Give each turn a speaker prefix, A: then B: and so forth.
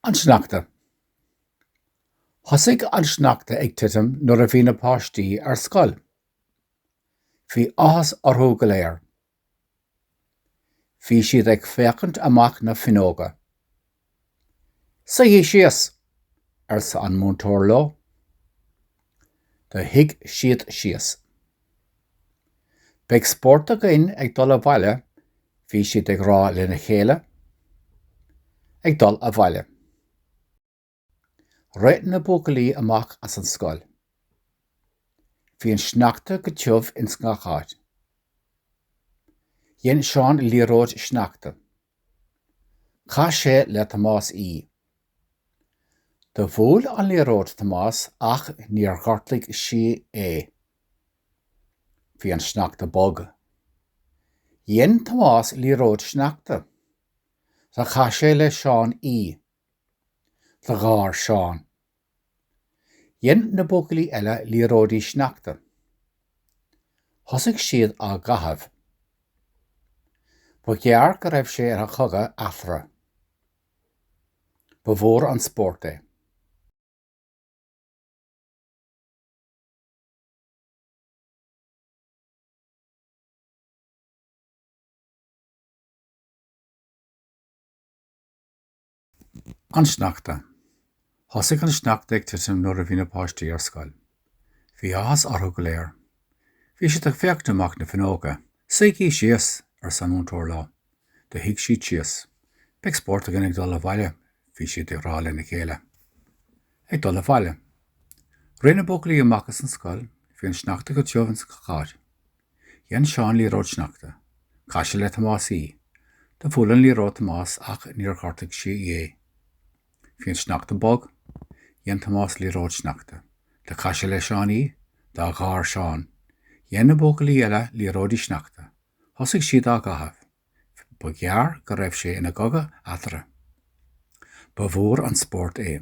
A: An Sneachta. Thosaigh an sneachta ag titim nuair a bhí na páistí ar scoil. Bhí áthas orthu go léir. Bhí siad ag féachaint amach na fuinneoga. Suígí síos! arsa an múinteoir leo. Do shuigh siad síos. Beidh spórt againn ag dul abhaile, bhí siad ag rá lena chéile. Ag dul abhaile. Rith na buachaillí amach as an scoil. Bhí an sneachta go tiubh ins gach áit. Dhein Seán liathróid sneachta. Chaith sé le Tomás í. Do bhuail an liathróid Tomás ach níor ghortaigh sí é. Bhí an sneachta bog. Dhein Tomás liathróid sneachta. Do chaith sé le Seán í. Do gháir Seán. Dhein na buachaillí eile liathróidí sneachta. Thosaigh siad á gcaitheamh. Ba ghearr go raibh sé ina chogadh eatarthu. Ba mhór an spórt é. An Sneachta. Thosaigh an sneachta ag titim nuair a bhí na páistí ar scoil. Bhí áthas orthu go léir. Bhí siad ag féachaint amach na fuinneoga. 'Suígí síos! arsa an múinteoir leo. Do shuigh siad síos. 'Beidh spórt againn ag dul abhaile, bhí siad ag rá lena chéile. Ag dul abhaile. Rith na buachaillí amach as an scoil. Bhí an sneachta go tiubh ins gach áit. Dhein Seán liathróid sneachta. Chaith sé le Tomás í. Do bhuail an liathróid Tomás ach níor ghortaigh sí é. Bhí an sneachta bog. Dhein Tomás liathróid sneachta. Do chaith sé le Seán í. Do gháir Seán. Dhein na buachaillí eile liathróidí sneachta. Thosaigh siad á gcaitheamh. Ba ghearr go raibh sé ina chogadh eatarthu. Ba mhór an spórt é.